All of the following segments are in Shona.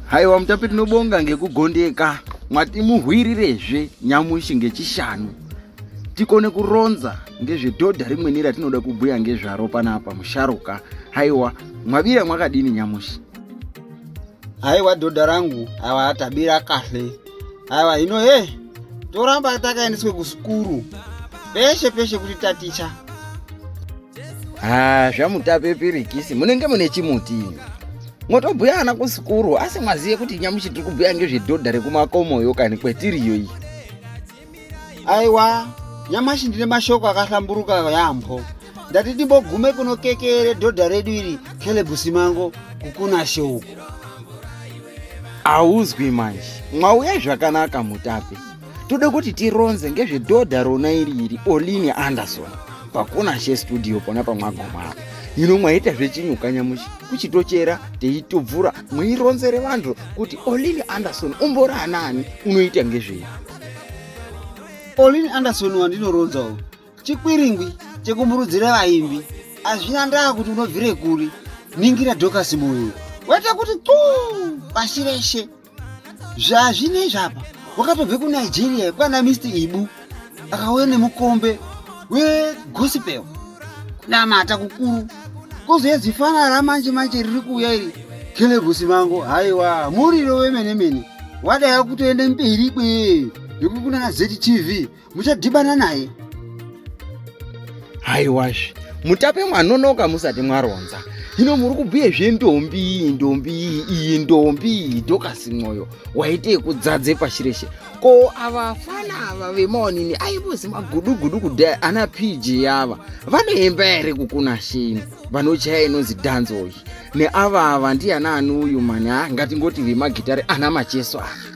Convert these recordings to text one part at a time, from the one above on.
haiwa mutapi tinobonga ngekugondeka mwatimuhwirirezve nyamushi ngechishanu tikone kuronza ngezvedhodha rimweni ratinoda kubhuya ngezvaro panapa musharuka haiwa mwavira mwakadini nyamushi haiwa dhodha rangu haiwa tabira kahle haiwa hino he toramba takaendeswe kusukuru peshe peshe kuti taticha haa zvamutape pirikisi munenge mune chimuti motobhuya ana kusikuru asi mwaziye kuti nyamushi tiri kubhuya ngezvedhodha rekumakomoyo kani kwetiriyo iyi aiwa nyamashi ndine mashoko akahlamburuka yaamho ndati ndimbogume kuno kekere dhodha redu iri kelebusi mango kukuna shoko hauzwi manje mwauya zvakanaka mutape toda kuti tironze ngezvedhodha rona iri iri oline anderson pakona chestudio pona pamwagomao ino mwaita zvechinyukanyamushi kuchitochera teitobvura mwironzere vanhu kuti oline anderson umbori anaani unoita ngezvei oline anderson wandinoronzawo chikwiringwi chekumurudzira vaimbi hazvina ndaa kuti unobvire kuri ningira dhokasi moyo waita kuti tu pashi reshe zvazvinei zvapa wakatobve kunigeria kwana mr ibu akauya nemukombe wegospel kunamata kukuru kozouya zifana ramanje manje riri kuuya iri kelegusi mango haiwa muriro wemene mene wadaya kutoenda mberi kwe yekukunana ztv muchadhibana naye haiwazve mutape mwanonoka musati mwaronza hino muri kubhuye zvendombi iyi ndombi iyi iyi ndombi iyi dokasi mwoyo waite yekudzadze pashi reshe ko ava fana ava vemaonini aivozi magudugudu kudai ana pg ava vanoemba here kukuna sheni vanochaya inonzi dhanzo iyi neava ava ndiana ani uyu mani ha ngatingoti vemagitare ana macheso ava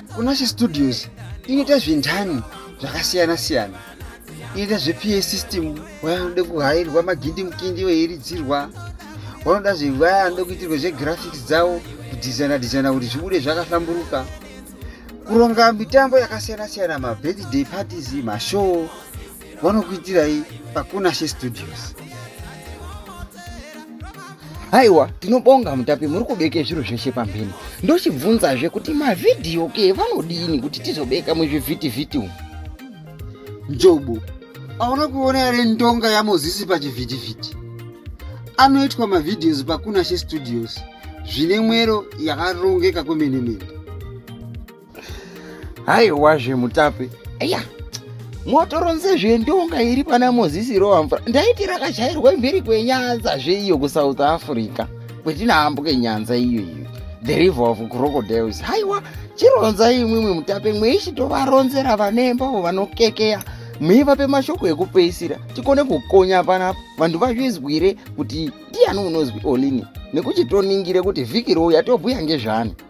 kunashe studios inoita zvintani zvakasiyana siyana inoita zvepa system vaya vanoda kuhairwa magindi mukindi veiridzirwa vanoda zvevaya vanoda kuitirwa zvegraphics dzavo kudhizaina dhizaina kuti zvibude zvakahlamburuka kuronga mitambo yakasiyana siyana mabirthday parties mashow vanokuitirai pakunashe studios haiwa tinobonga mutapi muri kubeke zviro zveshe pamhene ndochibvunzazve kuti mavhidhiyo ke vanodini kuti tizobeka muzvivhitivhiti umu njobo aona kuona yare ndonga yamozisi pachivhitivhiti anoitwa mavhidhios pakunashe studios zvine mwero yakarongeka kwemene mene haiwa zvemutape eya motoronze zvendonga iri pana mozisi rova mvura ndaiti rakashairwa mhiri kwenyanza zveiyo kusouth africa kwetinaambuke nyanza iyo iyo the river of crocodiles haiwa chironza imwimwe mutape mweishitovaronzera vanembavo vanokekeya muivape mashoko ekupeisira tikone kukonya pana vanhu vazvizwire kuti ndiyani unozwi olini nekuti toningire kuti vhiki rouya tobhuya ngezvani